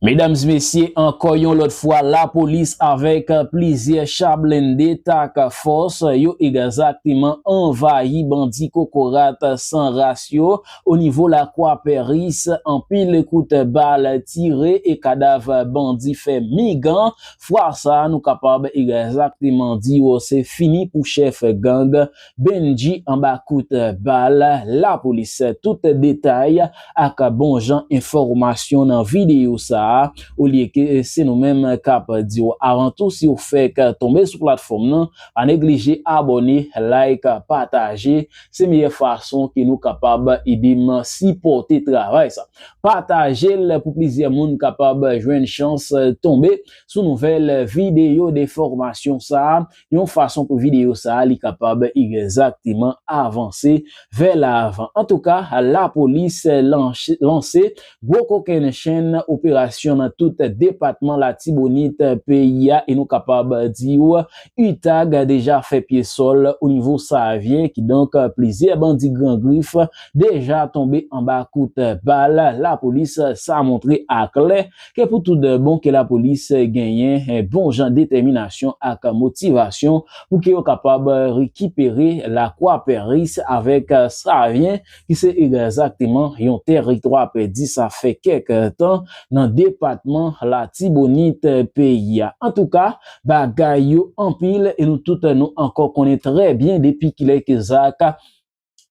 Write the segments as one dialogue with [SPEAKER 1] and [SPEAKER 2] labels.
[SPEAKER 1] Medams mesye ankò yon lòt fwa lapolis avèk plizyè cha blende tak fòs yo egzakteman anvayi bandi kokorat san ras yo o nivo lakwa peris anpil kout bal tire e kadav bandi fè migan fwa sa nou kapab egzakteman di yo se fini pou chèf gang Bendji anba kout bal lapolis tout detay ak bon jan enfòmasyon nan videyo sa olye ke se nou menm kap diw avan tou siw fèk tonbe sou platfòm nan pa neglije abòne like pataje se meyè fason ke nou kapab edem sipòte travay sa patajel pou plizyè moun kapab jwenn chans tonbe sou nouvèl videyo defòmasyon sa yon fason pou videyo sa a li kapab egzakteman avanse vè lavan. Antouka, lapolis lanse gwo kokenn chenn operasyon nan tout depatman Latibonit peyi a e nou kapab di w utag deja fè pye sòl onivo Savyen kidonk plizyè bandi gran grif deja tonbe anba kout bal lapolis sa montre aklè ke pou tout bon ke lapolis genyen bon jan detèminasyon ak motivasyon pou ke yo kapab rekipere Lakwa Peris avèk Savyen ki se egzakteman yon tèritwa pèdi sa fè kèk tan nan depatman Latibonit peyi a. Antouka, bagay yo anpil e nou tout nou ankò konnen trè byen depi kilè ke zak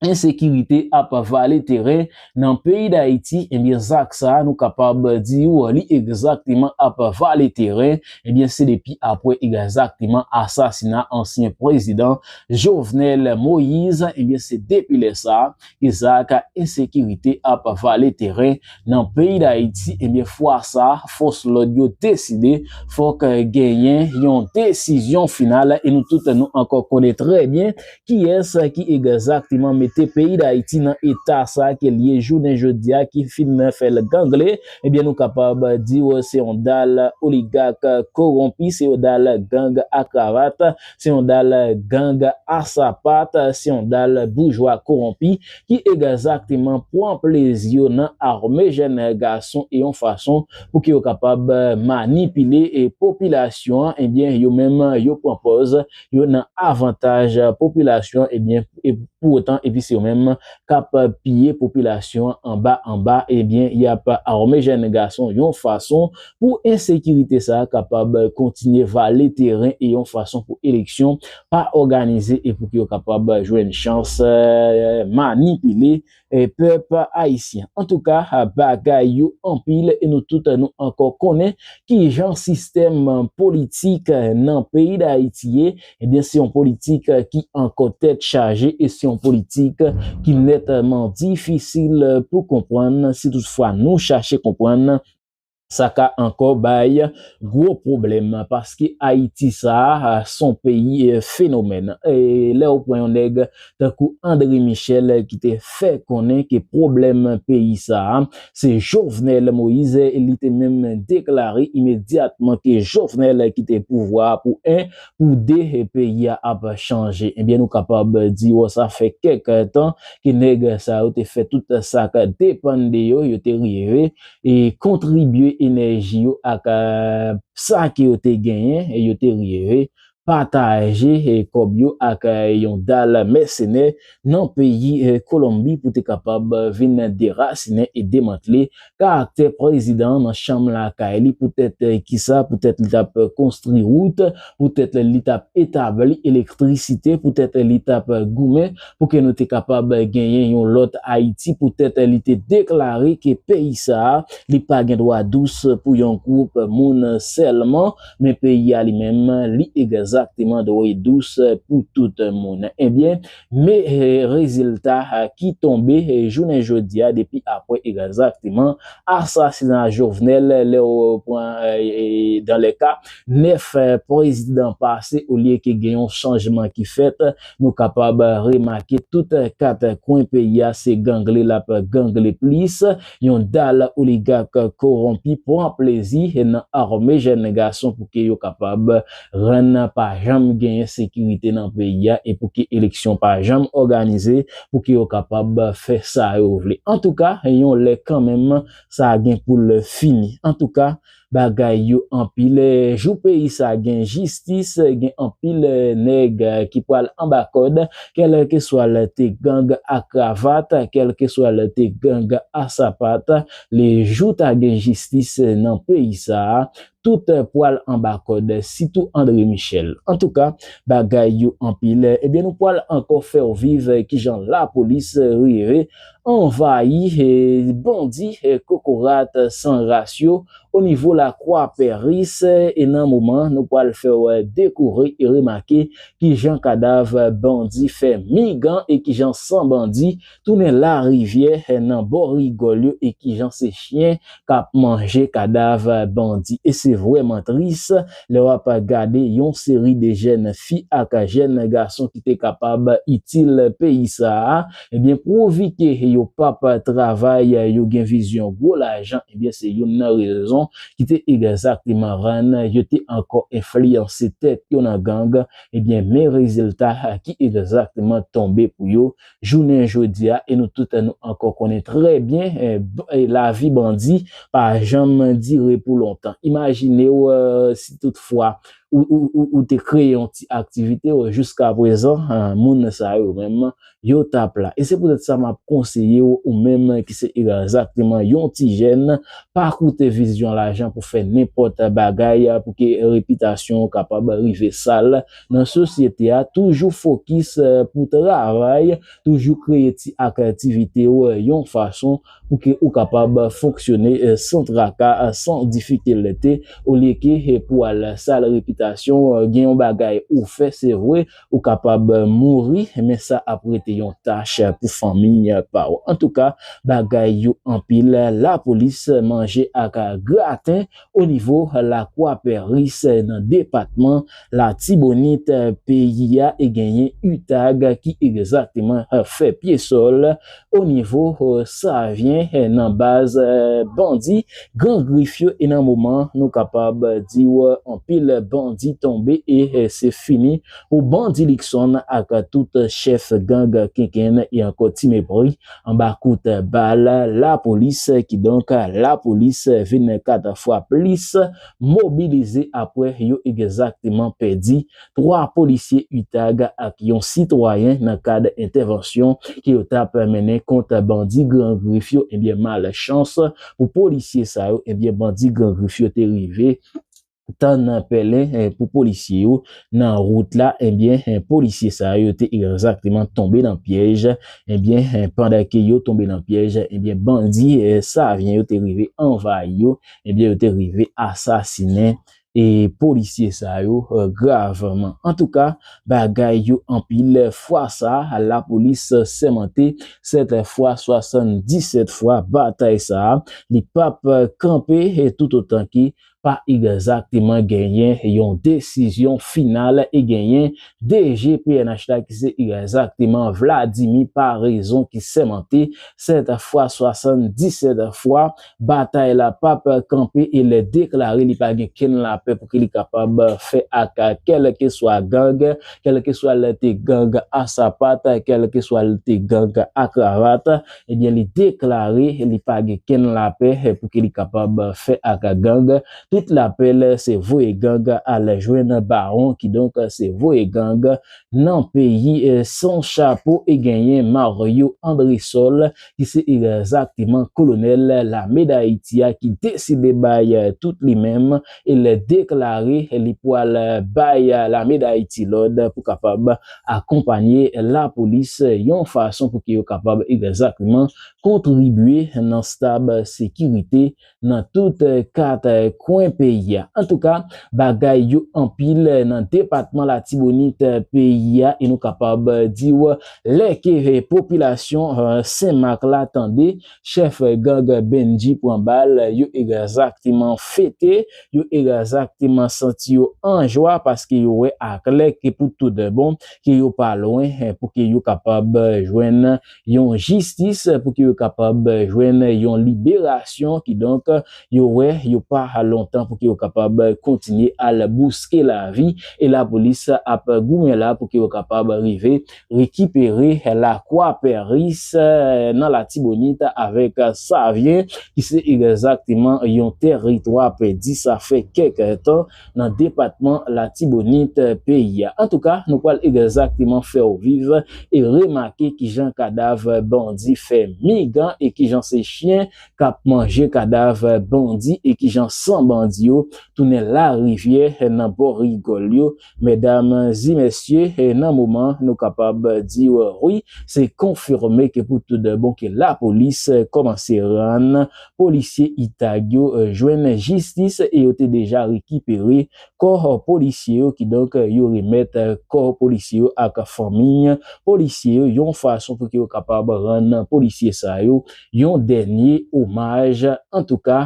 [SPEAKER 1] ensekirite ap vale teren nan peyi Dayiti, ebyen zak sa nou kapab di ou li egzakteman ap vale teren, ebyen se depi apre egzakteman asasina ansyen prezidan Jovenel Moise, ebyen se depi lè sa ke zak ensekirite ap vale teren nan peyi Dayiti, ebyen fwa sa fòs lòd yo deside fòk genyen yon desizyon final e nou tout nou ankò konnen trè byen Kiyès ki egzakteman mete peyi Dayiti nan eta sa ke l ye jounen jodi a ki fin fè l gangle? Ebyen nou kapab di w se yon dal oligak kowonpi, se yon dal gang a kravat, se yon dal gang a sapat, se yon dal boujwa kowonpi ki egzakteman pwan plezi yo nan arme jèn gason e yon fason pou ke yo kapab manipile popilasyon an, ebyen yo menm yo pwan pòz yo nan avantaj popilasyon ebyen pou otan epi se yo menm kap piye popilasyon anba anba ebyen yap arme jèn gason yon fason pou ensekirite sa kapab kontinye vale teren e yon fason pou eleksyon pa òganize e pou ki yo kapab jwenn chans manipile pèp ayisyen antouka bagay yo anpil e nou tout nou ankò konnen kijan sistèm politik nan peyi dayiti ye ebyen se yon politik ki ankò tèt chaje e se yon politik ki nètman difisil pou konprann si tout fwa nou chache konprann. Sa ka ankò bay gwo pwoblèm paske Ayiti sa a s on peyi fenomèn. Lè ou pran yon nèg tankou André Michel ki te fè konnen ke pwoblèm peyi sa a se Jovenel Moïse, li te menm deklare imedyatman ke Jovenel kite pouvwa a pou 1, pou 2 peyi a ap chanje. Ebyen nou kapab di w sa fè kèk tan ke nèg sa yo te fè tout sa k depann de yo, yo te rive e kontribye enèji yo ak sa ke yo te genyen, yo te rive pataje kòb yo ak yon dal mèsenè nan peyi Kolonbi pou te kapab vin derasinen e demantle karaktè prezidan an nan chanm lakay li poutèt kisa, poutèt li tap konstri wout, poutèt li tap etabli elektrisite, poutèt li tap goumen pou ke nou te kapab genyen yon lòt Ayiti poutèt li te deklare ke peyi sa a li pa gen dwa dous pou yon gwoup moun sèlman men peyi a li menm li egzakteman dwe dous pou tout moun ebyen me rezilta ki tonbe jounen jodi a depi apre egzakteman asasina Jovenel lè ou pran dan lè ka 9 prezidan pase olye ke gen yon chanjman ki fèt Nou kapab remake tout kat kwen peyi a se gangle l ap gangle plis, yon dal oligak kowonpi pran plezi nan arme jèn gason pou ke yo kapab rann pa janm genyen sekirite nan peyi a e pou ke eleksyon pa janm òganize pou ke yo kapab fè sa yo vle. Antouka, yon lè kanmenm sa gen pou l fini. Antouka. Bagay yo anpil jou peyi sa gen jistis gen anpil nèg ki pral anba kòd kèlkeswa l te gang a kravat kèlkeswa l te gang a sapat le jou ta gen jistis nan peyi sa tout pral anba kòd sitou André Michel antouka bagay yo anpil ebyen nou pral ankò fè w viv kijan lapolis rive anvayi bandi kokorat san ras yo o nivo lakwa peris e nan moman nou pwal fèw dekoure e remake kijan kadav bandi fè migan e kijan san bandi tounen larivyè nan bò rigòl yo e kijan se chyen kap manje kadav bandi e se vrèman tris lè wap gade yon seri de jèn fi ak jèn gason ki te kapab itil peyi sa a ebyen pwovike yo pap travay yo gen vizyon gwo lajan ebyen se youn nan rezon ki te egzakteman rann yo te ankò enfliyanse tèt yo nan gang ebyen men rezilta ki egzakteman tonbe pou yo jounen jodi a e nou tout nou ankò konnen trè byen lavi bandi pa janm dire pou lontan. Imajine w si tout fwa ou te kreye yon ti aktivite w jiska prezan moun sa yo menm yo t ap la. E se poutèt sa m ap konseye w ou menm ki se egzakteman yon ti jèn pa koute vizyon lajan pou fè nenpòt bagay pou ke repitasyon w kapab rive sal. nan sosyete a toujou fokis pou travay, toujou kreye ti aktivite w yon fason pou ke ou kapab fonksyone san traka, san difikilte olye ke pou al sal repitasyon gen yon bagay ou fè se vre ou kapab mouri men sa ap rete yon tach pou fanmi pa w. Antouka bagay yo anpil lapolis manje ak graten O nivo lakwa Pèris nan depatman Latibonit peyi a e genyen utag ki egzakteman fè pye sòl o nivo Savyen nan baz bandi Gran Grif yo e nan moman nou kapab di w anpil bandi tonbe e se fini pou Bandi Likson ak tout chèf gang Kenkenn e ankò Timepri Anba kout bal lapolis, kidonk lapolis vin 4 fwa plis mobilize apre yo egzakteman pèdi 3 polisye utag ak yon sitwayen nan kad entèvansyon ke yo tap mennen kont bandi Gran Grif yo ebyen malchans pou polisye sa yo ebyen bandi Gran Grif yo te rive tan nan pèlen pou polisye yo nan wout la ebyen polisye sa yo te egzakteman tonbe nan pyèj ebyen pandan ke yo tonbe nan pyèj ebyen bandi savyen yo te rive anvayi yo ebyen yo te rive asasinen e polisye sa yo gravman antouka bagay yo anpil fwa sa lapolis sèmante 7 fwa 77 fwa batay sa li pap kanpe toutotan ke pa egzakteman genyen yon desizyon final e genyen DG pnh la ki se egzakteman Vladimir Paraison ki sèmante 7 fwa 77 fwa batay la pap kanpe e lè deklare li pa gen kenn lapè pou ki li kapab fè ak kèlkeswa gang, kèlkeswa l te gang a sapat, kèlkeswa l te gang a kravat, Ebyen li deklare li pa gen kenn lapè pouki li kapab fè ak gang, tout lapèl se voye gang al jwenn bawon kidonk se voye gang nan peyi san chapo e genyen Mario Andresol ki se egzakteman kolonèl lame dayiti a ki deside bay tout li menm e lè deklare li pwal bay lame dayiti lòd pou kapab akonpanye lapolis yon fason pou ke yo kapab egzakteman kontribye nan stab sekirite nan tout 4 kwen peyi a. Antouka bagay yo anpil nan depatman latibonit peyi a e nou kapab diw lè ke popilasyon senmak la tande Chèf gang Bendji pran bal, yo egzakteman fete, yo egzakteman santi yo an jwa paske yo wè aklè ke pou tout bon ke yo pa lwen pou ke yo kapab jwenn yon jistis, pou ke yo kapab jwenn yon liberasyon, kidonk yo wè yo pa lontan pou ke yo kapab kontinye al bouske lavi e lapolis ap goumen la pou ke yo kapab rive rekipere lakwa Pèris nan Latibonit avèk Savye ki se egzakteman yon tèritwa pèdi sa fè kèk tan nan depatman Latibonit peyi a. Antouka, nou pral egzakteman fè w viv e remake kijan kadav bandi fè mig an e kijan se chyen k ap manje kadav bandi e kijan san bandi yo tounen larivyè nan bò rigòl yo Medam zi mesye nan moman nou kapab diw wi se konfime ke pou tout bon ke la polis komanse rann polisye itag yo jwenn jistis e yo te deja rekipere kò polisye yo ki donk yo remèt kò polisye yo ak fanmiy polisye yo yon fason pou ke yo kapab rann polisye sa yo yon dènye omaj antouka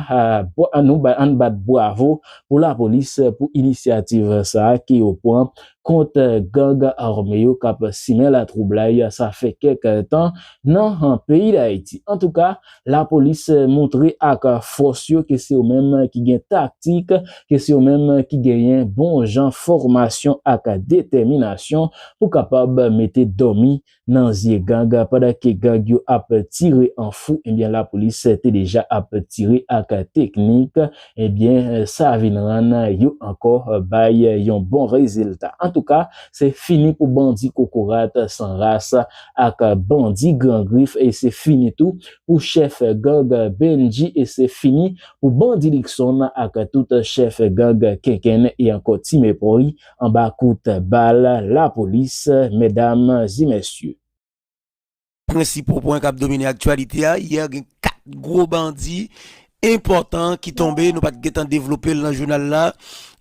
[SPEAKER 1] nou bay ann bat bravo pou lapolis pou inisyativ sa ke yo pran kont gang arme yo kap simen latwoublay sa fè kèk tan nan peyi dayiti antouka lapolis moutre ak fòs yo ke se yo menm ki gen taktik ke se yo menm ki genyen bon jan fòmasyon ak detèminasyon pou kapab mete dòmi nan zye gang pandan ke gang yo ap tire an fou ebyen lapolis te deja ap tire ak teknik ebyen sa vin rann yo ankò bay yon bon rezilta antouka se fini pou bandi kokorat san ras ak bandi gran grif e se fini tou pou chèf gang Bendji e se fini pou bandi Luckson ak tout chèf gang Kenkenn e ankò Timepoy. Anba kout bal lapolis medam e mesye.
[SPEAKER 2] Prensipal pwen kap domine aktyalite a, yè gen 4 gwo bandi enpòtan ki tonbe, nou pat gentan devlope l nan jounal la,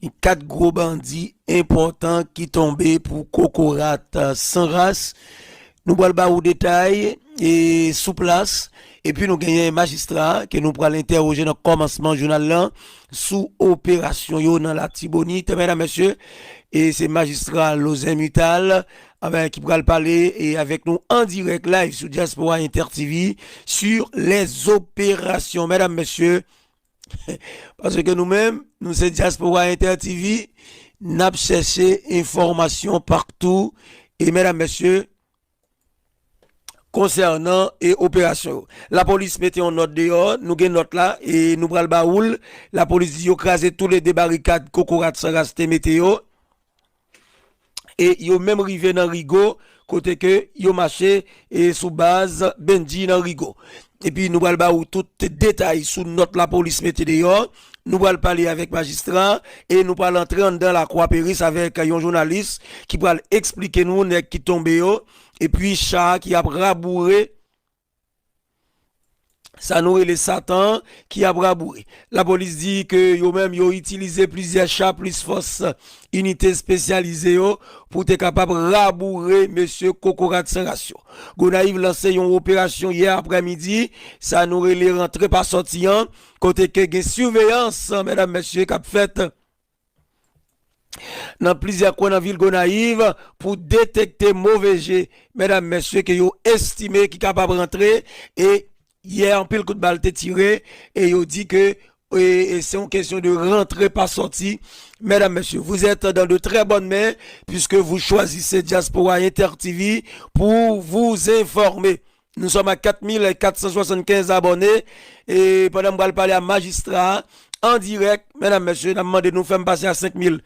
[SPEAKER 2] gen 4 gwo bandi enpòtan ki tonbe pou kokorat san ras, Nou pral ba ou detay sou plas epi nou genyen majistra ke nou pral entèwoje nan kòmansman jounal lan sou operasyon yo nan Latibonit. Medam, Mesye, se majistra Lozen Mutal ki pral pale avèk nou an dirèk live sou Diaspora Inter TV sur les opérations. Medam, Mesye, Paske nou menm, nou se Diaspora Inter TV, nap chèche enfòmasyon paktou e medam mesye konsènan e operasyon yo. Lapolis mete yon nòt deyò, nou gen nòt la e nou pral ba oul, lapolis di yo kraze toulede barikad kokorat san ras te mete yo. e yo menm rive nan Rigo kote ke yo mache e sou baz Bendji nan Rigo. Epi nou pral ba ou tout detay sou nòt lapolis mete deyò, nou pral pale avèk majistra e nou pral antre anndan lakwa Peris avèk yon jounalis ki pral esplike nou nèg ki tonbe yo epi cha ki ap raboure Sa nou rele satan an ki ap raboure. Lapolis di ke yo menm yo itilize plizyè cha plis fòs inite espesyalize yo pou te kapab raboure mesye kokorat san ras yo. Gonayiv lanse yon operasyon yè aprè midi, sa nou rele rantre pa sòti an, kote ke gen siveyans mèdam mesye kap fèt. nan plizyè kwen nan vil Gonayiv pou detekte move je medam mesye ke yo estime ki kapab rantre e yè anpil kout bal te tire e yo di ke e se yon kesyon de rantre pa sòti medam mesye vous êtes dans de très bonnes mains puisque vous choisissez Diaspora Inter TV pour vous informer. Nou sòm ak 4475 abòne e pandan m pral pale a majistra a an dirèk medam mesye nap mande nou fèm pase a 5000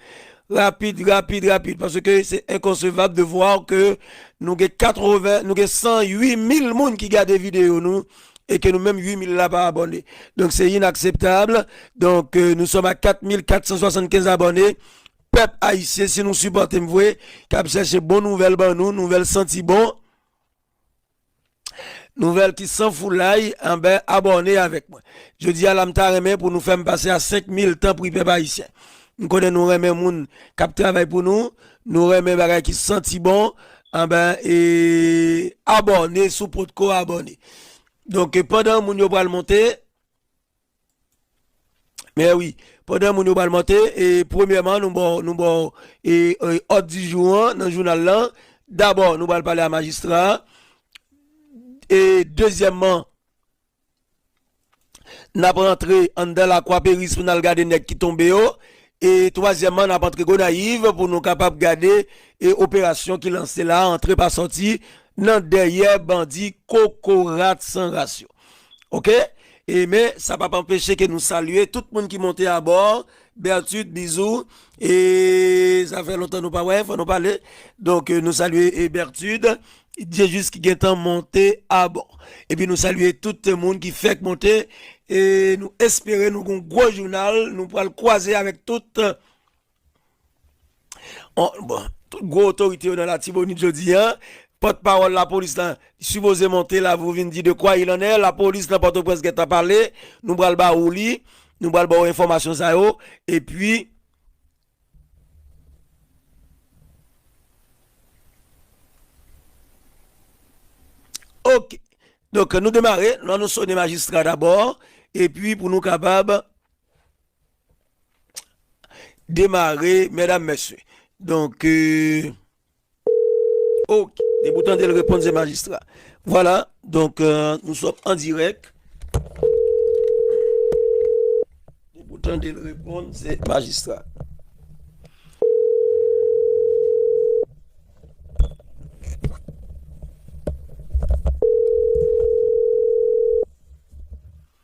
[SPEAKER 2] rapid rapid rapid paske se enkonsevab de voir ke nou gen 80 nou gen 100 8000 moun ki gade video nou e ke nou menm 8000 la pa abòne donk se inakseptab donk nou sòm a 4475 abòne pèp ayisyen si nou sipòtem vwe kap chèche bon nouvèl ban nou nouvèl santi bon. Nouvèl ki san foulay anbè abòne avèk mwen jodia la m ta renmen pou nou fèm pase a 5000 tanpri pèp ayisyen m konnen nou renmen moun kap travay pou nou nou renmen bagay ki santi bon anbè abòne sou potko abòne donk pandan moun yo pral monte. Mè wi, pandan moun yo pral monte, e premyèman nou baw nou baw e òd di jou an nan jounal lan, dabò nou pral pale a majistra a, e dezyèmman nap rantre anndan lakwa peris pou nal gade nèg ki tonbe yo, e twazyèmman nap antre gonayiv pou nou kapab gade e operasyon ki lanse la antre pa sòti nan dèyè bandi kokorat san ras yo. ok e men sa pap anpeche ke nou salye tout moun ki monte a bor Bertut bizou e sa fè lontan nou pa wè fò nou pale donk nou salye e Bertut Diejus ki gentan monte a bò epi nou salye tout moun ki fèk monte e nou espere nou gon gwo jounal nou pwal kwaze avèk tout. Tout gwo otorite yo nan Latibonit jodi a, pòt pawòl lapolis la sipoze monte la pou vin di de kwa il an è, lapolis nan Pòtoprens gentan pale, nou pral ba ou li, nou pral ba ou enfòmasyon sa yo, epi. Ok, donk nou demare, nou annou sone majistra dabò, epi pou nou kapab. Demare medam mesye Donk euh, ok Depi ou tande l reponn se majistra Vwala donk euh, nou sòm an dirèk Depi ou tande l reponn se majistra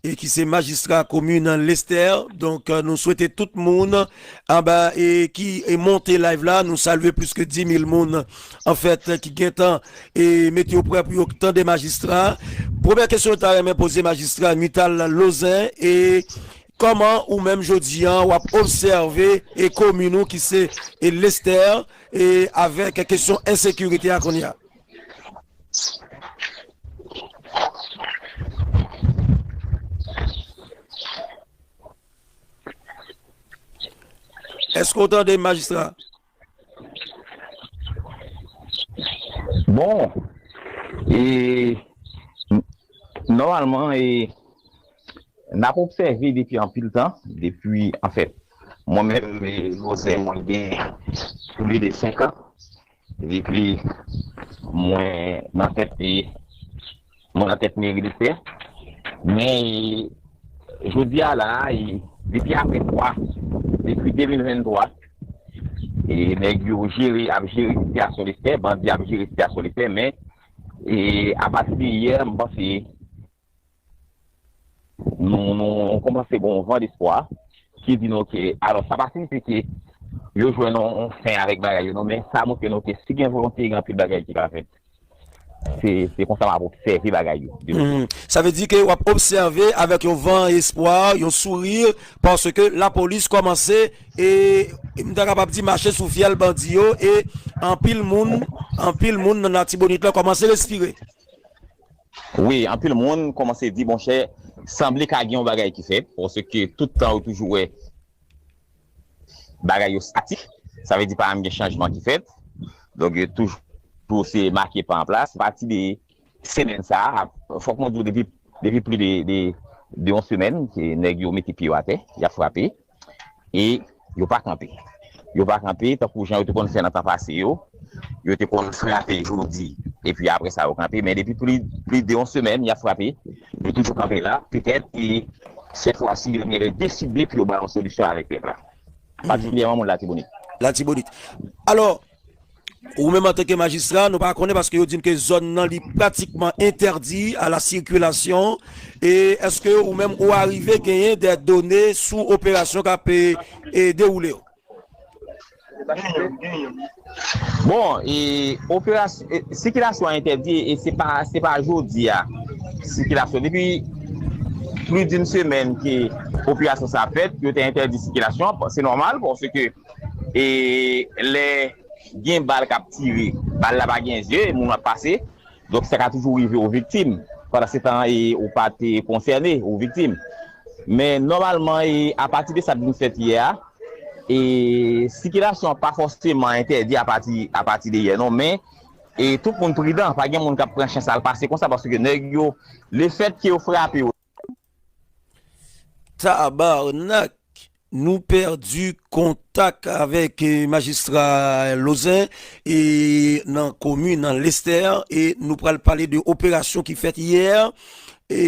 [SPEAKER 2] e ki se majistra komin lestè donk nou swete tout moun anba e ki e monte live la nou salye plis ke 10000 moun anfèt ki gentan e mete yo prè pou yo k tande majistra premyè kesyon ta renmen poze majistra nuital lozen e kòman ou menm jodi an wap obsève e komin ou ki se e lestè e avèk kesyon ensekirite a kounye a. Eske ou tande m majistra?
[SPEAKER 3] Bon, e, nòmalman e, n ap obsève depi anpil tan, depi anfèt, mwen menm e, Jose mwen gen plis de 5 an. Di plis, mwen nan tèt li, mwen nan tèt meri Lestè. Men, jodi a la, depi apre 3, depi 2023, nèg yo jere, ap jere sitiyasyon Lestè, bandi ap jere sitiyasyon Lestè. Men, apati de yè, m panse, Nou koumanse gen yon van despwa ki di nou ke, alò sa pa siyifi ke yo jwenn yon fen avèk bagay yo non, men sa montre nou ke si gen volonte gen anpil bagay ki ka fèt. Se konsa map obsève bagay yo de lwen. Sa vle di
[SPEAKER 2] ke wap obsève avèk yon van espwa, yon souri, paske lapolis koumanse e m ta kapab di mache sou fyèl bandi yo e anpil moun, anpil moun nan Latibonit la koumanse respire.
[SPEAKER 3] Wi anpil moun komanse di monchè sanble ka gen yon bagay ki fèt paske tout tan ou toujou wè bagay yo statik sa vle di pa janm gen chanjman ki fèt donk yo toujou se make pa anplas apati de semèn sa fòk mwen di w depi pli de yon semèn nèg yo mete pye yo atè yap frape. E yo pa kanpe. Yo pa kanpe tankou jan yo te konn fè nan tan pase yo. Yo te konn frape jodi epi apre sa yo kanpe. Men depi plis de yon semèn y ap frape. Yo toujou kanpe la. Petèt e sètfwasi yo genlè deside pou yo bay yon solisyon avèk pèp la. Patikilyèman moun Latibonit. Latibonit. Alò.
[SPEAKER 2] Ou menm antanke majistra, nou pa konnen paske yo di n ke zòn nan li pratikman entèdi a la sikilasyon e èske ou menm ou arive genyen dè done sou operasyon k ap dewoule yo?
[SPEAKER 3] Bon, e operasyon, sikilasyon an entèdi e se pa, se pa jodi a sikilasyon, depi plis di n semèn ke operasyon sa fèt, yo te entèdi sikilasyon, se nòmal paske. e lè gen bal kap tire bal la pa gen zye moun ap pase donk sa ka toujou rive ou viktim pandan se tan e ou pa te konsène ou viktim men nòmalman e apati de sa k vin fèt yè a e sikilasyon an pa fòseman entèdi apati apati de yè non men e tout moun pridan pa gen moun kap pran chans al pase konsa paske nèg yo lefètke yo frape ou.
[SPEAKER 2] Tabarnak! Nou pèdi kontak avèk majistra Lozin e nan komin nan Lestè e nou pral pale de operasyon ki fèt yè e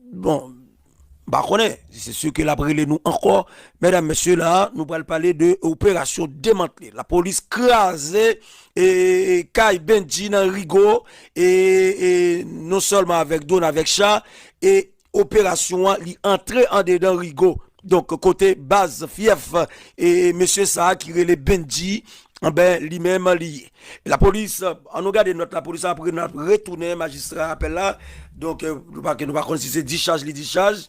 [SPEAKER 2] bon m pa konnen se si ke l ap rele nou ankò medam mesye la a nou pral pale de operasyon demantle lapolis kraze Kay Bendji nan Rigo e non sèlman avèk Done avèk Cha e operasyon an li antre andedan Rigo donk kote baz fyèf e mesye sa ki rele Bendji anben li menm li ye lapolis an nou gade nòt lapolis apre n ap retounen majistra apèl la donk nou pa konn si se dichaj li dichaj.